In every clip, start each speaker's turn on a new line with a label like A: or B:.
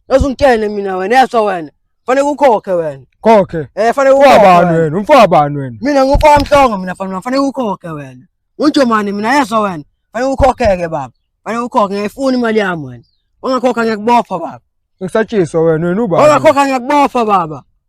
A: Yazi ungitshene mina wena yaswa wena. Fanele ukhokhe wena. Khokhe. Eh fanele
B: ukhokhe. Ufabani
A: wena? Umfabani
B: wena? Mina ngumfamhlongo
A: mina fanele fanele ukhokhe wena. Unjomani mina yaswa wena. Fanele ukhokheke baba. Fanele ukhokhe ngiyifuna imali yami wena. Ungakhokha ngiyakubopha baba. Ngisatshiswa wena
B: wena ubaba. Ungakhokha ngiyakubopha
A: baba.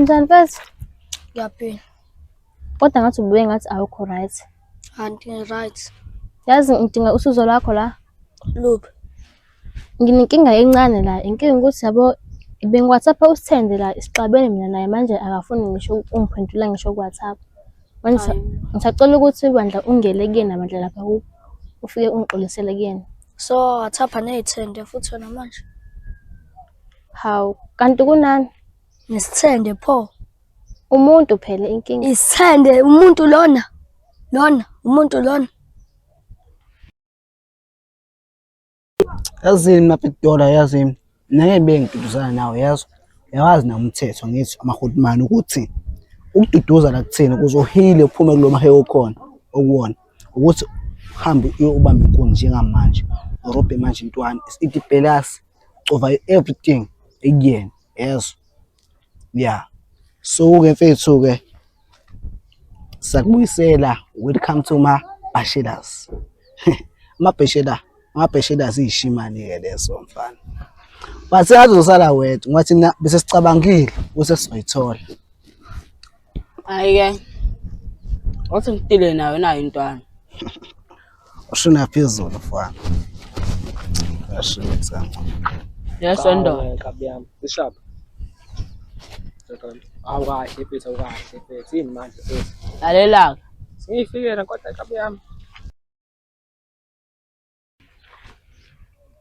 C: Njani mfethu? Ngiyaphila. Kodwa ngathi ubuye ngathi awukho right. Anti right.
D: Yazi ngidinga
C: usizo lwakho la.
D: Luphi?
C: Nginenkinga encane la. Inkinga ukuthi yabo bengiwhatsapp usithende la isixabene mina naye manje akafuni ngisho ungiphendula ngisho kuwhatsapp. Ngisacela ukuthi bandla ungele kuyena bandla lapha ufike ungixolisele kuyena. So wathapha
D: ney'thende futhi wena manje.
C: Hawu, kanti kunani? Nesithende
D: pho. Umuntu
C: phela inkinga. Isithende umuntu
D: lona. Lona umuntu lona.
E: Yazini mapidola yazini nake bengiduduzana nawo yazi yawazi na umthetho ngithi amahulumani ukuthi ukududuza la kuthina ukuze uhile uphume kulo mahewu okhona okuwona ukuthi uhambe uyobamba inkuni njengamanje urobhe manje intwana isitibhelasi cova everything ekuyena yezo yeah so ke mfethu ke sakubuyisela welcome to ma bashelas ma bashela ma bashelas ishimani ke leso mfana bathi azosala wedwa ngathi bese sicabangile bese sizoyithola Hhayi-ke
A: wathi ngidile nayo nayo intwana.
E: Ushina phezulu mfana. Ashile sana. Yeso
A: ndoda. Nkabi yami,
B: sishapha. Awukahle mfethu, awukahle mfethu. Yini manje mfethu? Lalelaka.
A: Sengiyifikela
B: kodwa nkabi yami.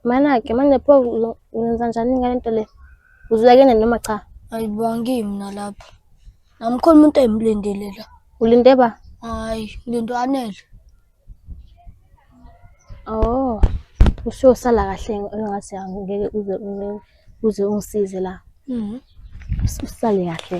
C: Mana-ke manje pho ngenza njani ngale nto le? Uzulakene noma cha? Ayibongi mina
D: lapha. Namkhona umuntu engimlindele la. Ulinde ba?
C: Hayi, ngilinde
D: anele.
C: Oh. Usho sala kahle engathi angeke uze uze ungisize la. Mhm. Usale kahle.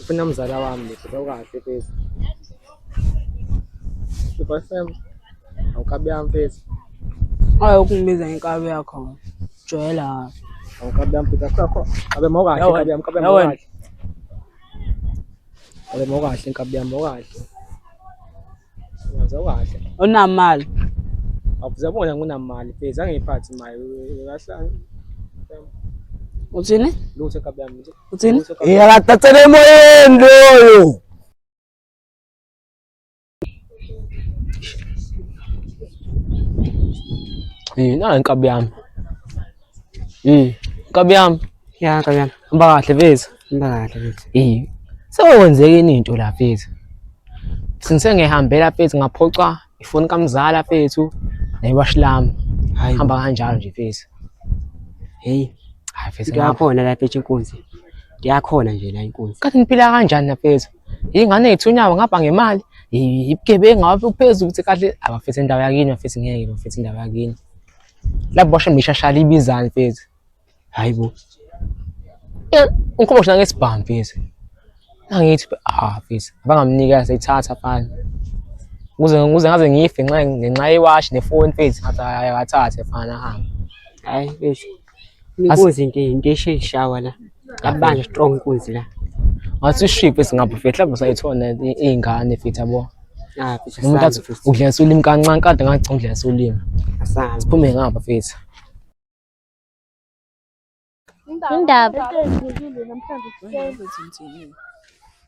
B: Ufuna mzala wami lesi sawukahle phezi. Super Sam. Awukabi yami phezi. Hayi
A: ukungibiza ngenkabi yakho. Jwayela. Awukabi yami
B: phezi. Akho abe mawukahle Yawa- inkabi yami, inkabi yami yawa- mawukahle. Abe mawukahle inkabi yami mawukahle. Ngizwa kahle.
A: Unamali. Abuza
B: bona nginamali pheze angiphathi imali kahle.
A: Uthini? Lutho kabi yami.
B: Uthini?
A: Yakatatele
E: emoyeni loyo.
B: Eh, nankabi yami. Mm. Nkabi yami. Ya nkabi yami.
F: Hamba kahle mfethu.
B: Hamba kahle mfethu.
F: Eh. Sekwenzeke
B: ini into la mfethu? Sinse ngihambela mfethu ngaphoxa ifoni kamzala mfethu newash lami. Hamba
F: kanjalo nje mfethu.
B: Hey.
F: Hayi mfethu.
B: Ngiyakhona la mfethu inkunzi.
F: Ngiyakhona nje la inkunzi. Kathi niphila kanjani
B: mfethu? Ingane yethu unyawo ngapha ngemali. Ibugebengu ngabe uphezulu ukuthi kahle abafethu indawo yakini bafethu ngeke bafethu indawo yakini. la bosha mishashali ibizani mfethu hayi bo
F: eh,
B: ngikhomba shona ngesibhamu mfethu angithi ah mfethu abangamnika seyithatha fana ukuze ukuze ngaze ngife nxa ngenxa yewashi nefoni mfethu ngathi ayathathe fana hamba hayi
F: mfethu inkozi into into esheshawa la Kabanje strong inkunzi la. Ngathi ship
B: esingabu fethu lapho sayithona izingane fethu yabo. Ah, fethu. Umuntu
F: athi udlisa
B: ulimi kancane kade ngathi udlisa ulimi. Asazi. Siphume
F: ngapha fethu.
C: Indaba. Indaba.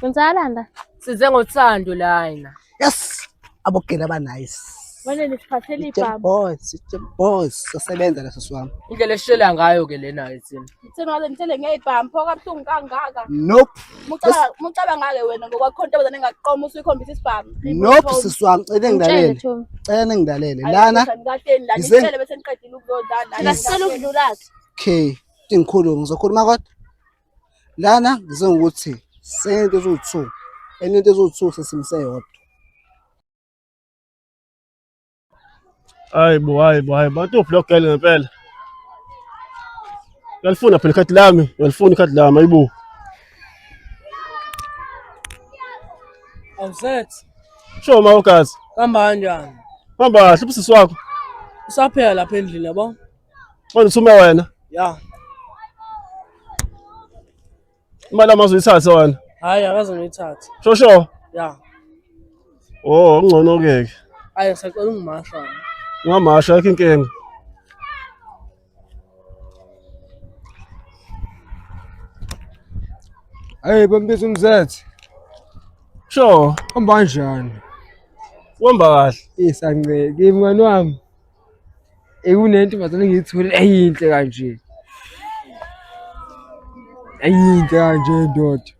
C: Kwenzakalani la? Size ngothando
B: lana. Yes.
E: Abogela ba nice. Wena nisiphathele
G: ibhamu. Boss, boss,
E: sasebenza leso swami. Indlela eshela ngayo
B: ke lena ethini. Ngithena ngaze ngithele
G: ngeyibhamu phoka buhlungu kangaka. Nope.
E: Mucaba mucaba
G: ngale wena ngokwakho into abazane ngaqoma usuyikhombisa isibhamu. Nope siswami
E: cele ngidalele. Cela ngidalele.
C: Lana. Ngidalele
E: lana. Ngicela bese
G: ngiqedile ukuzodlala. Ngasicela ukudlula. Okay.
E: Ingikhulu ngizokhuluma kodwa. Lana ngize ngokuthi sento eziwu-two enye into eziwu-two sesimse yodwa hayi
H: bo hayi bo hayi bo atuphi lo gele ngempela uyalifuna phela ikhadi lami uyalifuna ikhadi lami ayibo
A: awusethi sho ma
H: ugazi kuhamba kanjani
A: hamba kahle ubusisi
H: wakho usaphela
A: lapha endlini yabo Manje usume
H: wena. Ya. Imali amazi uyithathe wena. Hayi akaze ngiyithathe.
A: Sho sho. Ya.
H: Oh, ngcono ke ke. Hayi ngisacela
A: ungimasha. Ungamasha yakho
H: inkinga.
I: Hey bambiza umzethe.
H: Sho, Hamba
I: kanjani? uhamba
H: kahle. Isanceke
I: mngani wami. ekunentombazane engiyithole eyinhle kanje eyinhle kanje ndoda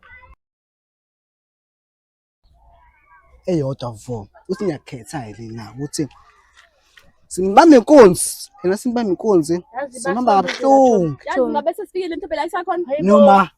E: eyodwa vo uthi ngiyakhetha yini na ukuthi simbambe inkunzi yena simbambe inkunzi simhamba kabuhlungu
G: noma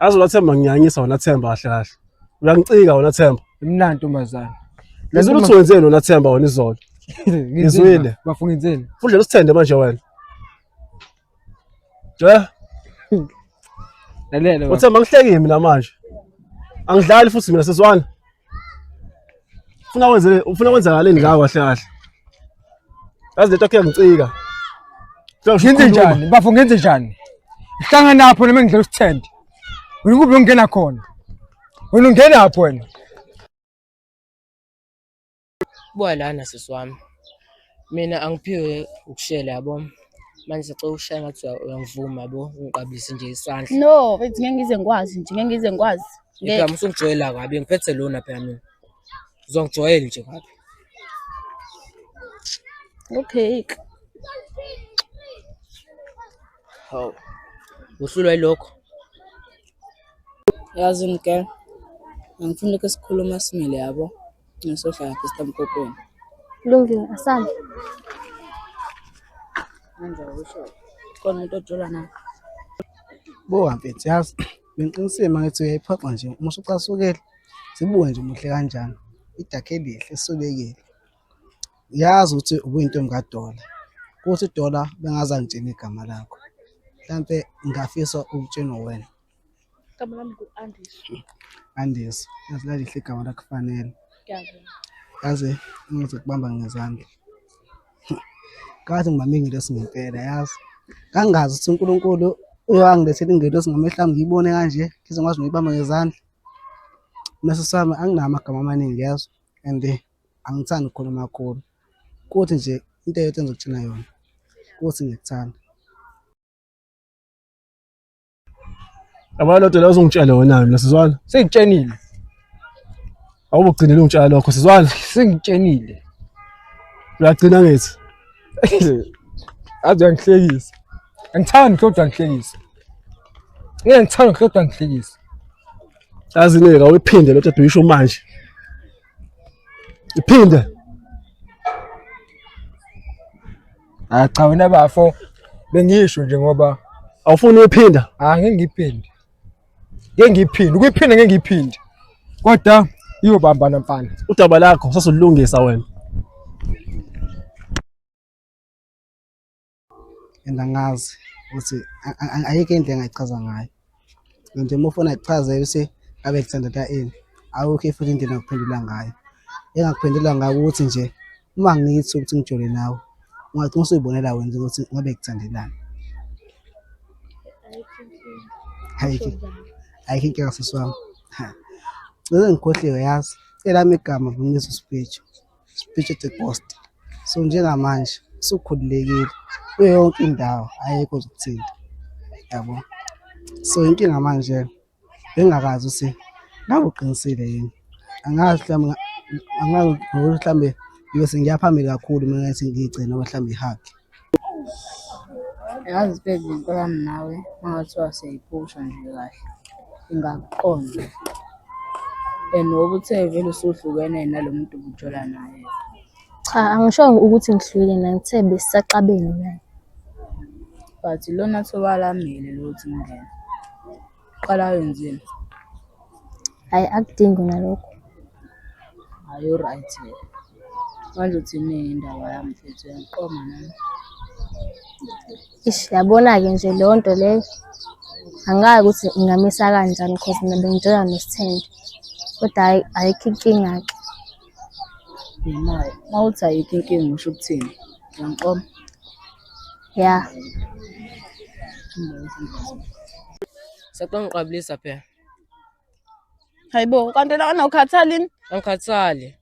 H: Azi wena Themba ngiyanyisa wena Themba kahle kahle. Uyangicika wena Themba. Imnandi ntombazane.
I: Ngizwile ukuthi
H: wenzeni wena Themba wena izolo. Ngizwile. Bafunga inzeni.
I: Fudlela usithende manje
H: wena. Ja.
I: Lalela. Uthemba ngihleki mina
H: manje. Angidlali futhi mina seswana. Ufuna wenzele ufuna kwenzakaleni ngawe kahle kahle. Yazi lento akhe ngicika.
I: Ngenze njani? Bafo ngenze njani? Ngihlanga napho noma ngidlela usithende. Wena kube ungena khona. Wena ungena lapho wena.
B: Buka lana sisi wami, mina angiphiwe ukushela yabo manje sacela ukushaya ngathi uyangivuma yabo ungiqabulise nje isandla no mfethu ngeke ngize
G: ngikwazi nje ngeke ngize ngikwazi ngeke usungijwayela
B: kabi ngiphethe lona phela mina uzongijwayela nje kabi
G: okay
B: hawu uhlulwa yilokho
J: yazi ngigel angifuni lokho esikhuluma simile yabo Ngiyasohlala ke sitamkokweni. Kulungile
C: asambe.
J: Manje usho khona umuntu
E: ojola na. Bo mfethu yazi bengiqinisile mangithi uyayiphoxa nje uma usucasukela sibuke nje umuhle kanjani idakhe elihle esobekile yazi ukuthi ubuyintombi kadola kuthi dola bengazangitshela igama lakho mhlampe ngingafisa ukutshenwa wena Igama
G: lami ngu-Andiswa.
E: Andis, yazi lalihle igama lakufanele. Ngiyabonga. Yazi ngize kubamba ngezandla. Kathi ngibambe ingelosi ngempela yazi. Kangazi ukuthi uNkulunkulu uyangilethela ingelosi ngamehla ami ngiyibone kanje ngize ngikwazi nokuyibamba ngezandla. Meso sami anginawo amagama amaningi yazi and eh, angithandi ukukhuluma kakhulu. Kuthi nje into eyodwa engizokutshela yona ukuthi ngikuthanda.
H: Yabona lento leyo uzungitshele wena mina sizwana. Sengitshenile.
I: Awubugcinile
H: ungitshela lokho sizwana. Sengitshenile. Uyagcina ngithi. Aze
I: uyangihlekisa. Angithandi kodwa ngihlekisa. Ngeke ngithanda kodwa ngihlekisa. Yazi
H: neka uyiphinde lento ebhikisho manje. Iphinde.
I: Ah cha wena bafo bengisho nje ngoba awufuni uyiphinda
H: ah ngeke ngiphinde.
I: Ngeke ngiphinde, ukuyiphinda ngeke ngiphinde. Kodwa iyobambana mfana. udaba lakho
H: sasolulungisa wena
E: and angazi ukuthi a- a- a- ayikho into engayichaza ngayo nje uma ufuna kuchaze ukuthi abe kuthandela ini awukho futhi indlela ngokuphendula ngayo engakuphendula ngayo ukuthi nje uma ngithi ukuthi ngijole nawe ungagcina usuyibonela wena ukuthi ngabe kuthandelani ayikho ayikho inkinga sisi wami cishe ngikhohliwe yazi elami igama ngumisa usipetshu Speech at the post. So njengamanje usukhululekile kuyo yonke indawo ayekho ukuthinta. Yabo. So inkinga manje bengakazi ukuthi ngabe uqinisile yini. Angazi mhlawumbe angazi mhlawumbe ngiyothi ngiyaphambili kakhulu mina ngathi ngigcina mhlawumbe ihaki.
J: Yazi baby ngicela wami nawe uma ngathiwa siyayiphusha nje kahle ingakuqonda and ngoba uthe vele usuhlukene nalo muntu ubujola naye. Cha
C: angishongo ukuthi ngihlukile naye ngithe besisaxabene naye.
J: But ilona thuba lamile lokuthi ungene. Qala wenzeni?
C: Hayi akudingi nalokho.
J: Hayi uright wena. Manje uthini indaba yami mfethu uyangiqoma nami. Ish
C: yabona-ke nje leyo nto leyo angikazi ukuthi ingamisa kanjani cause mina bengijola nosithende kodwa hhayi ayikho inkinga-ke Yimali.
J: Uma uthi ayikho inkinga usho ukuthini? Uyangiqoma?
C: Yeah.
B: Sekongiqabulisa phela. Hayibo,
G: kanti la anawukhathalini? Angikhathali.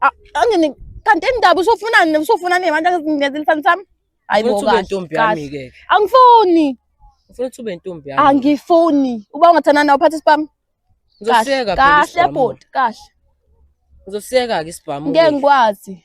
G: A-
B: Angini
G: kanti indaba usofunani usofunani abantu angizingezelifani sami? Hayibo Ufuna ukuba kahle. intombi kahle. yami ke.
B: Angifuni.
G: Ufuna ukuthi ube
B: intombi yami. Angifuni. Uba
G: ungathandana nawe uphathe isibhamu. Ngizosiyeka
B: phela Kahle isibhamu. bhuti,
G: kahle.
B: Ngizosiyeka ke isibhamu. Ngeke ngikwazi.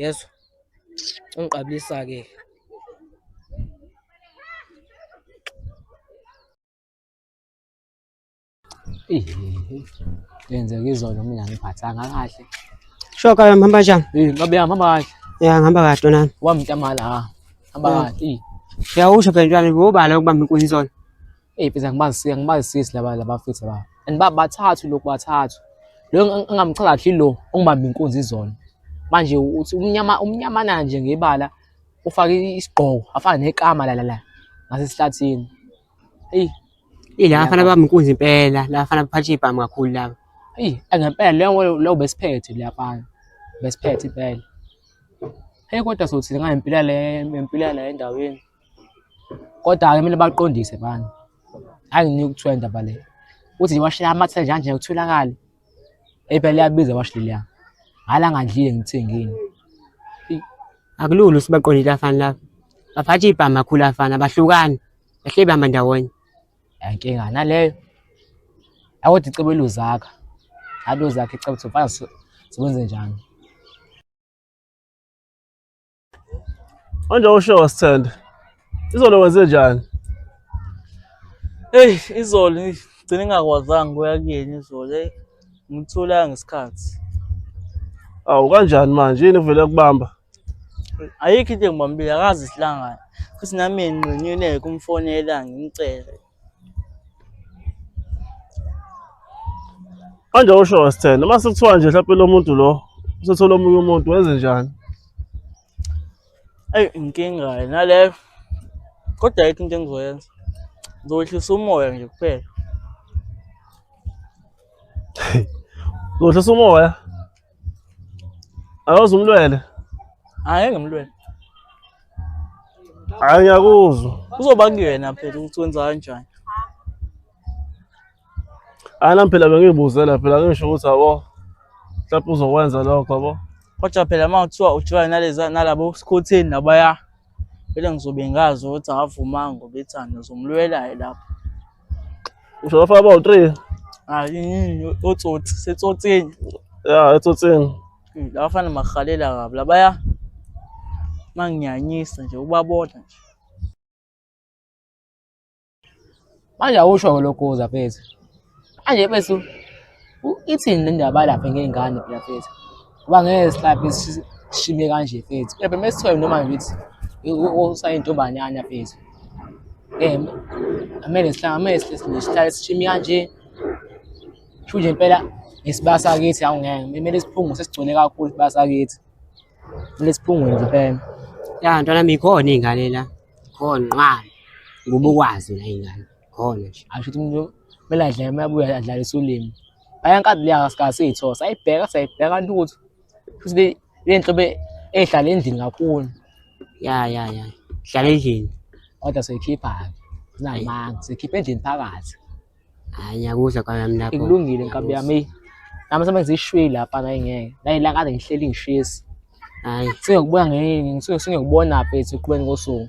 B: yezwa ungiqabulisa-ke yenzeka izolo mina ngiphathanga kahle shoka yami
F: hamba njani ngabe yami hamba kahle
B: ya ngihamba kahle
F: nami wamntamala
B: hamba kahle uyawusho phela ntwana
F: ubala ukubamba inkunzi izolo Eyi mfethu angibazi
B: angibazisisi laba labafethu laba. And ba bathathu lokhu bathathu. Lo engamchaza kahle lo ongibamba inkunzi izona. Manje uthi umnyama umnyamana nje ngebala ufake isigqoko afana nekama la la la ngasesihlathini.
F: Eyi Ila bafana bami inkunzi impela, la bafana baphatha ibhamu kakhulu laba. eyi angempela
B: leyo leyo besiphethe leyafana. Besiphethe impela. Hey kodwa sothini ngayempila le empila la endaweni. Kodwa-ke kumele baqondise bani. Hhayi nginika ukuthiwa indaba le. Uthi nje iwashi liyamathela nje kanje kutholakale. Eyi phela liyabiza iwashi leliya. Hhayi la ngandlile ngithengile.
F: Akulula ukuthi baqondile abafana laba. Baphatha ibhama kakhulu abafana, abahlukani. Bahleli behamba ndawonye. Hhayi inkinga
B: naleyo. Hhayi kodwa icebo eluzakha. Hhayi luzakha icebo ukuthi mfana sikwenze njani.
H: Manje usho sithanda. Izolo wenze njani? Hey,
K: izolo ngigcine ngakwazanga kuya kuyena izolo. Hey, ngitholanga ngesikhathi.
H: Awu kanjani manje? Yini kuvele kubamba? Ayikho
K: into engibambile, akazi isilangana. Futhi nami nginqenyuleke umfonela ngimcele.
H: Manje usho wasithena uma sekuthiwa nje mhlawumpe lo muntu lo usethola omunye umuntu wenze njani? Eyi
K: inkinga ke naleyo kodwa ayikho into engizoyenza ngizowehlisa umoya nje kuphela
H: Uzohlisa umoya Awuze umlwele. Hayi
K: ngemlwele.
H: Hayi ngiyakuzwa. Uzoba
K: kuyena phela ukuthi wenza kanjani. Hayi
H: nami phela bengiyibuzela phela ngisho ukuthi abo mhlawumbe uzokwenza lokho abo. Kodwa phela uma
K: kuthiwa ujula naleza nalabo skhotheni nabaya phela ngizobe ngazi ukuthi akavumanga ngoba ethanda uzomlwela lapho.
H: Ushona faka bawu 3. Hayi yini
K: otsotsi setsotsini. Ya
H: etsotsini. Labafana
K: mahalela kabi labaya manginyanyisa nje ubabona nje.
B: Manje awusho ngolokuza mfethu. Manje mfethu ithini le ndaba lapha ngey'ngane phela mfethu. Uba ngeke sihlaphe sishime kanje fethu. Phela uma sithiwa noma ngithi usayintombanyana fethu. Eh amele sihlale amele sihlale sishime kanje. Sho nje impela ngesibasa kithi awu ngeke. Kumele siphungu sesigcwele kakhulu isibasa kithi. Kumele siphungu nje impela. Ya ntwana
F: mikhona ingane la. Khona nqwa. Ngoba ukwazi la ingane. hole nje asho ukuthi umuntu kumele
B: adlale uma ebuya adlalisa ulimi ayankazi leya sikasiyithosa ayibheka sayibheka lutho futhi le nhlobo ehlala endlini kakhulu ya ya
F: ya hlala endlini kodwa soyikhipha-ke
B: zinamanga soyikhipha endlini phakathi hayi
F: ngiyakuzwa kwami lapho ikulungile nkabi yami
B: nami sobe ngizishwile lapha naye ngeke nayila kade ngihleli ngishisa hayi
F: sengiyokubona ngeke
B: sengiyokubona phethu ekubeni kosuku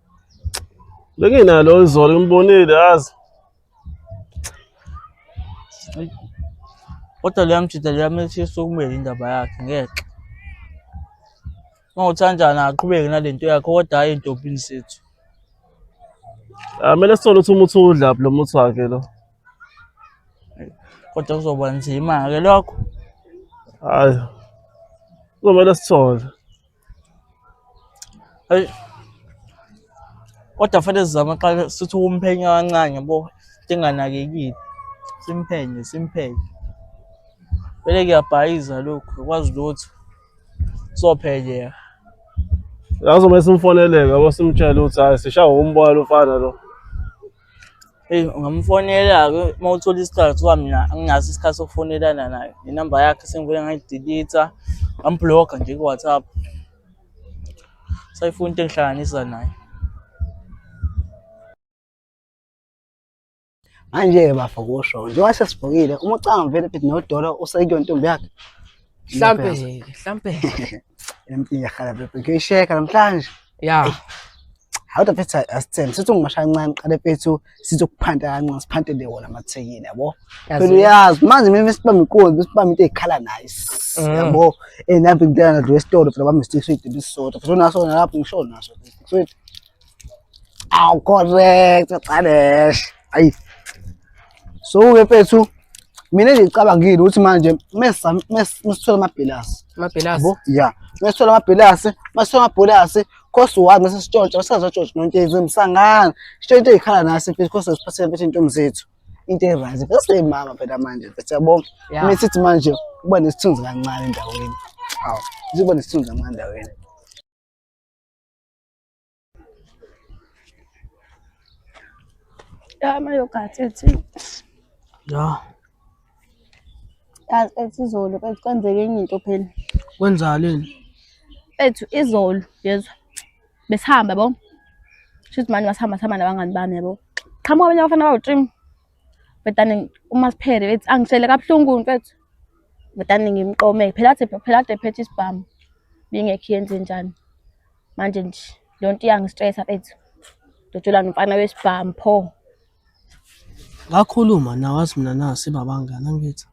H: Benginalo izolo ngimbonile yazi.
K: Kodwa liyamjida liyamethisa isukumele indaba yakhe ngeke. Uma uthandana aqhubeke nale nto yakhe kodwa hhayi entombini sethu. Amele
H: ah, sithole ukuthi umuthi udla lo muthi wakhe lo.
K: Kodwa kuzoba nzima-ke lokho. Hhayi.
H: Kuzomele sithole.
K: Hey. Kodwa fanele sizame qala sithi ukumphenya kancane yabo singanakekile. Simphenye, simphenye. Vele kuyabhayiza lokhu, ukwazi lutho. Sophenyeka.
H: Lazomele simfoneleke yabo simtshele ukuthi hayi sishawa umbola lomfana lo. Eyi
K: ungamfonela-ke uma uthola isikhathi kuthiwa mina anginaso isikhathi sokufonelana naye. Nenamba yakhe sengibuye ngayidilitha, ngambhulokha nje ku-WhatsApp. Sayifuna into engihlanganisa naye.
E: Manje-ke bafo kusho njengoba sesibhukile uma ucanga vele ukuthi nodolo usekuyona intombi yakhe. Mhlampe ke, mhlampe.
B: Empini yakhala
E: bebe. Ngiyisheka namhlanje. Yeah.
B: How the
E: pizza asithembe sithi ungimashaya kancane qale phethu sizokuphanta kancane siphantele wona amathekile yabo. Phela uyazi manje mina sibamba inkulu besibamba into ezikhala nice. Mm. Yabo. Eh nambe ngidela nalo esitolo phela bami stick sweet bisisodwa. Futhi unaso lapho ngisho naso. Sweet. Aw correct Xadesh. Ayi. So ke mfethu mina nje ngicabangile ukuthi manje mesa mesithola amabhilasi. Amabhilasi. Yabo? Yeah.
B: Mesithola
E: amabhilasi, masithola amabhilasi Khosi wazi mase sitshontsha basazotshontsha nontshezi emsangana. Sitshontshe ikhala nasi mfethu khosi siphathele mfethu intombi zethu. Into erise. Bese mama phela manje mfethu yabo. Yeah. Mina sithi manje kuba nesithunzi kancane endaweni. Aw. Ziba nesithunzi kancane endaweni.
C: Ama yogurt ethi. Ya. Yazi ethi izolo ethi kwenzeke enye into phela. Kwenzaleni? Ethu izolo yezwa. Besihamba bo. Shuthi manje masihamba sihamba nabangani bami yabo. Qhamuka abanye abafana bawu-trim. Betane uma siphere bethi angishele kabuhlungu mfethu. Betane ngimqome phela athi phela ade phethe isibhamu. Bingekho yenze njani. manje nje le nto iyangistresa bethu ndojula nomfana wesibhamu pho ngakhuluma
A: nawazi mina na sibabangani angithi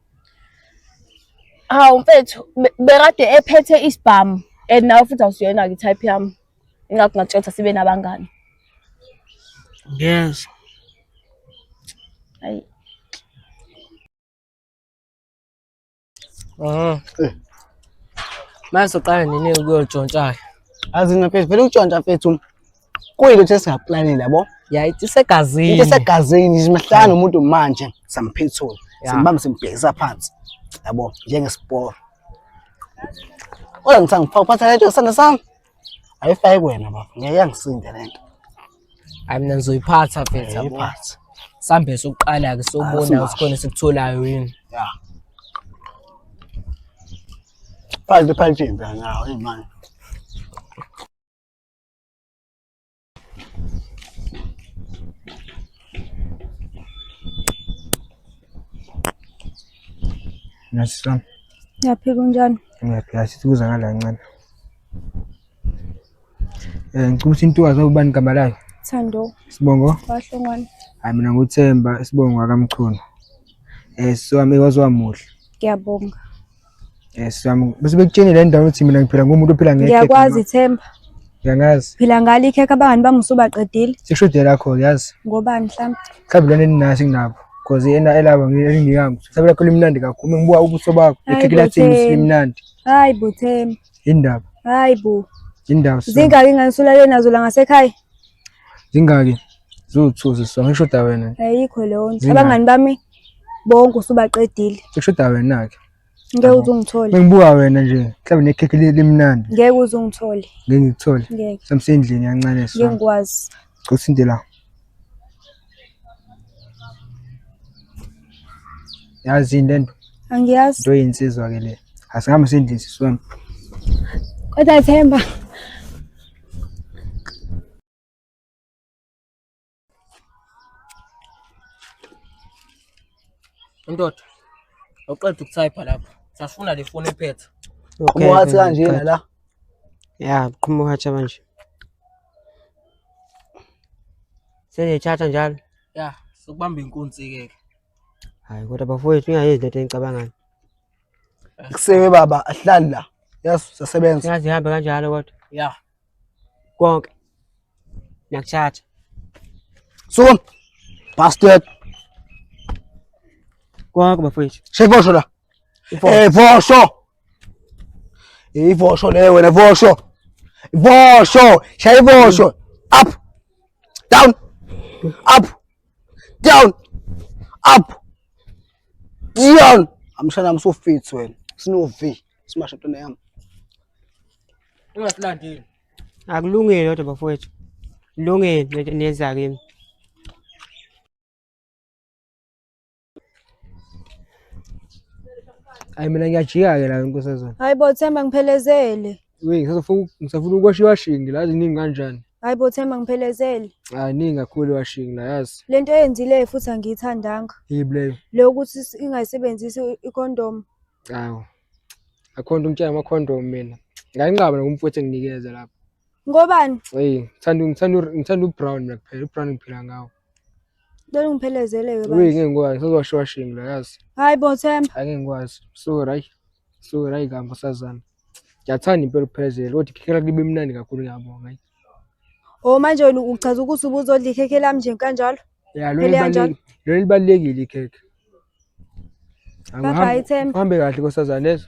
A: hawu
C: mfethu be- bekade ephethe isibhamu and nawe futhi awusiyona-ke i-type yami ingakho ngatshela ukuthi asibe nabangani ngiyezwa
A: ayi
C: Eh.
B: Manje soqala nini ukuyotshontsha-ke? Azi mina mfethu
E: vele ukutshontsha mfethu kuyinto ukuthi esingaplanile yabo. Ya ithi
B: isegazini.
E: Into esegazini
B: nje mahlala
E: nomuntu manje samphethula. Ya. Simbamba simbhekisa phansi. Yabo njengesiporo. Ola ngithanga ngifaka phansi lento sandla sami. Ayifake wena baba. Ngeke yangisinde lento. Hayi
B: mina ngizoyiphatha mfethu yabo. Ayiphathe. Sambe sokuqala ke sobona Asimanje. ukuthi khona esikutholayo yini. Ya.
E: Phansi phansi impela nawo imali.
I: Nasi sami. Yaphi
D: kunjani? Ngiyaphi kahle kuza
I: ngala ncane. Eh ngicela ukuthi intokazi ubani igama layo? Thando. Sibongo? Wahlongwana.
D: Hayi mina nguThemba,
I: Sibongo akamchunu. Eh so wami waziwamuhle. Ngiyabonga.
D: Yes,
I: yami. Bese bekutshene le ndawo ukuthi mina ngiphila ngomuntu ophila ngeke. Ngiyakwazi Themba.
D: Ngiyangazi.
I: Phila ngalo ikhekhe
D: abangani bami usubaqedile. Sekushode lakho
I: yazi. Ngobani mhlawumbe?
D: Mhlawumbe lona eninaso
I: nginabo. Cause yena elaba ngiyami. Mhlawumbe lakho limnandi kakhulu. Ngibuka ubuso bakho. Ikhekhe lathini simnandi. Hayi bo
D: Themba. Indaba. Hayi
I: bo.
D: Indaba. Zingaki
I: ngani usulale
D: nazo la ngasekhaya? Zingaki?
I: Zuthuzi so ngishoda wena. Ayikho leyo.
D: Abangani bami bonke usubaqedile sekushoda wena-ke
I: ngeke uze ungithole
D: bengibuka wena nje
I: mhlawumbe nekhekhe li- limnandi ngeke uze ungithole
D: ngeke ngikuthole
I: ngeke samsendlini
D: kancane ngeke
I: so ngikwazi
D: cosinte la
I: yazi yini lento angiyazi into
D: eyinsizwa ke
I: le asihambe sendlini sisi wami
D: kodwa themba
B: Indoda awuqeda ukuthayipha lapho. Sasifuna le foni ephethe. Okay. Wathi
E: kanjena la. Ya,
F: qhuma uhatsha manje. Sengiyithatha njalo. Ya, sokubamba
B: inkunzi ke. Hayi kodwa
F: bafowethu ningayenzi lento enicabangani.
E: Kusebe baba ahlali la. Yes, sasebenza. Singazihambe kanjalo
F: kodwa. Ya.
B: konke
F: ngiyakutshatha
E: sukuma bastard
F: konke bafowethu shevosho la
E: eh vosho ivosho le wena vosho vosho shaya ivosho up down up down up down amshana msufits wena sinovi Simasha tuna yami.
B: Ungasilandile. Akulungile
F: kodwa bafowethu. Lungile niyenza kimi.
I: Hayi mina ngiyajika-ke la nkosazana. Hayi bo Themba
D: ngiphelezele. We ngisafuna
I: ngisafuna ukwasha iwashingi la ziningi kanjani? Hayi bo Themba
D: ngiphelezele. Hayi ningi kakhulu
I: iwashingi la yazi. Le nto eyenzileyo futhi
D: angiyithandanga. Yibi leyo. Le
I: ukuthi
D: ingayisebenzisi i-condom. Awu.
I: Akho nto umtshela amakhondom mina. Ngayinqaba nokumfowethu enginikeza lapho. Ngobani?
D: Hey, ngithanda ngithanda
I: ngithanda ubrown mina kuphela. Ubrown ngiphila ngawo. Ngicela
D: ungiphelezeleke Uyi bandla. ngeke ngikwazi. Sazowasho
I: washing la yazi. Hayi bo Themba. Hayi
D: ngeke ngikwazi.
I: Sorry hayi. Sorry hayi kambe sazana. Ngiyathanda impela ukuphelezela. Kodwa ikhekhe lakho libe mnandi kakhulu ngiyabonga. hayi. Oh
D: manje wena uchaza ukuthi ubuzodla ikhekhe lami nje kanjalo. Ya lona Phela kanjalo.
I: libalulekile. Lona libalulekile ikhekhe. Bye
D: bye, Themba. Uhambe kahle nkosazana
I: lezo.